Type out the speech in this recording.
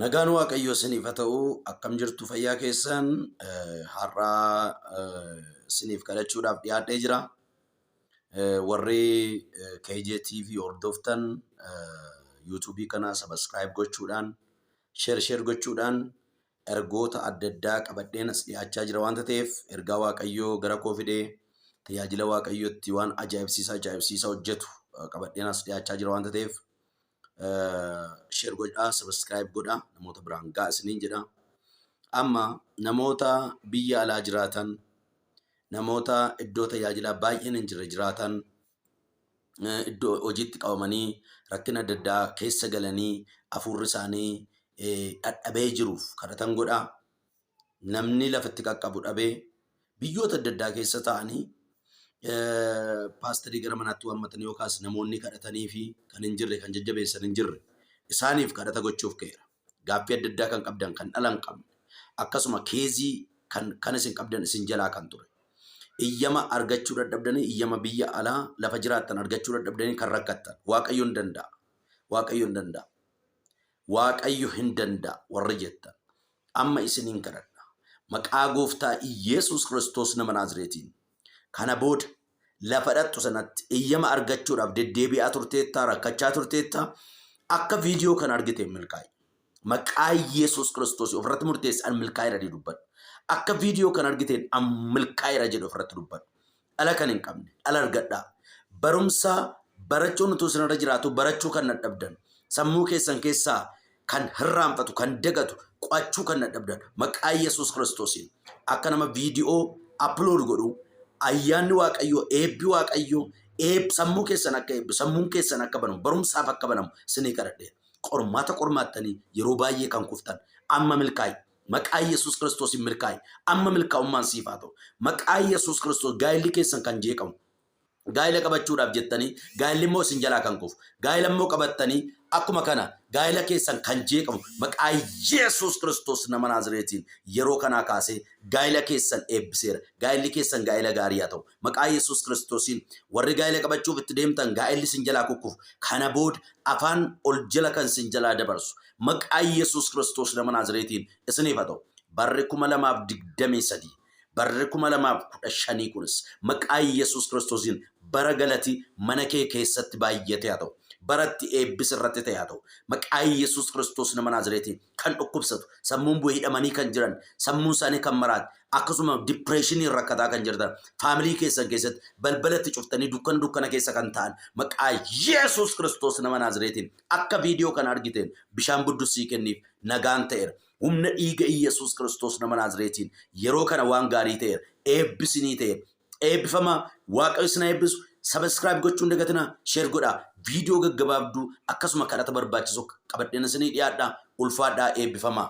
Nagaan Waaqayyoo isiniif haa ta'u akkam jirtu fayyaa keessan har'aa isiniif kadhachuudhaaf dhiyaadhee jira. Warri KJTV hordoftan YouTube kana subscribe gochuudhaan share share gochuudhaan ergoota adda addaa qabadheen as dhiyaachaa jira waanta ta'eef ergaa Waaqayyoo gara koo fidee tajaajila Waaqayyootti waan ajaa'ibsiisaa ajaa'ibsiisaa hojjetu qabadheen as dhiyaachaa jira waanta ta'eef Share godhaa, subscribe godhaa, namoota biraan ga'a isiniin jedha. Amma namoota biyya alaa jiraatan, namoota iddoo tajaajilaa baay'een hin jirre jiraatan, eh, iddoo hojiitti qabamanii rakkina adda addaa keessa galanii hafuurri isaanii eh, dhadhabee jiruuf kadhatan godhaa. namni lafa itti qaqqabu dhabee biyyoota adda addaa keessa taa'anii eh, paastarii gara manaatti waammatanii yookaas namoonni kadhatanii fi kan hin jirre kan jajjabeessan hin jirre isaaniif kadhata gochuuf ka'eera. Gaaffii adda addaa kan qabdan kan dhala hin qabne akkasuma keezii kan kan isin qabdan isin jalaa kan ture. Iyyama argachuu dadhabdanii iyyama biyya alaa lafa jiraattan argachuu dadhabdanii kan rakkattan waaqayyo hin danda'a. Waaqayyo hin danda'a. Waaqayyo hin danda'a warri jettan. Amma isiniin kadhadha. Maqaa Gooftaa Iyyeesuus Kiristoos nama Naazreetiin. Kana booda lafa dhaqxu sanatti eyyama argachuudhaaf deddeebi'aa turteettaa, rakkachaa turteettaa, akka viidiyoo kana argiteen milkaa'i. Maqaa Iyyeesuus Kiristoos ofirratti murteessi an milkaa'eera jedhi dubbadhu. Akka viidiyoo kana argiteen an milkaa'eera jedhi ofirratti dubbadhu. dhala kan hin qabne dhala argadhaa. Barumsa barachuun utuu isinirra jiraatuu barachuu kan dadhabdan, sammuu keessan keessaa kan hirraanfatu, kan dagatu, qo'achuu kan dadhabdan maqaa Yesuus Kiristoosiin akka nama viidiyoo upload godhu ayyaanni Waaqayyoo, eebbi Waaqayyoo eeb sammuu keessan akka eebbi, sammuun keessan akka banamu, barumsaaf akka banamu isinii kadhadheera. Qormaata qormaattanii yeroo baay'ee kan kuftan amma milkaa'e Maqaa Yesuus Kiristoosiin milkaa'i. Amma milkaa'ummaan siif haa ta'u. Maqaa Yesuus Kiristoos gaa'illi keessan kan jeeqamu. Gaa'ila qabachuudhaaf jettanii gaa'illi immoo isin jalaa kan kufu. Gaa'ila immoo qabattanii akkuma kana gaa'ila keessan kan jeeqamu maqaa Yesuus Kiristoos nama Naazireetiin yeroo kanaa kaasee gaa'ila keessan eebbiseera. Gaa'illi keessan gaa'ila gaarii haa ta'u. Maqaa Yesuus Kiristoosiin warri gaa'ela qabachuuf itti deemtan gaa'elli isin jalaa kukkufu kana booda afaan ol jala kan isin jalaa dabarsu maqaa Yesuus Kiristoos nama Naazireetiin isiniif haa ta'u. Barri 2023 barri 2015 kunis maqaa Yesuus Kiristoosiin bara galati mana kee keessatti baay'atee haa ta'u. Bara itti eebbis irratti ta'e haa ta'u. Maqaa Yesuus Kiristoos nama Naazireetiin kan dhukkubsatu, sammuun bu'e hidhamanii kan jiran, sammuun isaanii kan maraate, akkasuma dipireeshiniin rakkataa kan jirtan, faamilii keessan keessatti balbala itti cuftanii dukkana dukkana keessa kan ta'an, maqaa Yesuus Kiristoos nama Naazireetiin akka viidiyoo kana argiteen bishaan buddussii kenniif nagaan ta'eera. Humna dhiiga Yesuus Kiristoos nama Naazireetiin yeroo kana waan gaarii ta'eera. Eebbisinii ta'eera. Eebbifamaa waaqayyo isin haa eebbisu. Sabiskiraayib gochuun dagatinaa sheer godhaa. Viidiyoo gaggabaabduu akkasuma kadhata barbaachisu qabadheen isinii dhiyaadha. Ulfaadhaa eebbifamaa.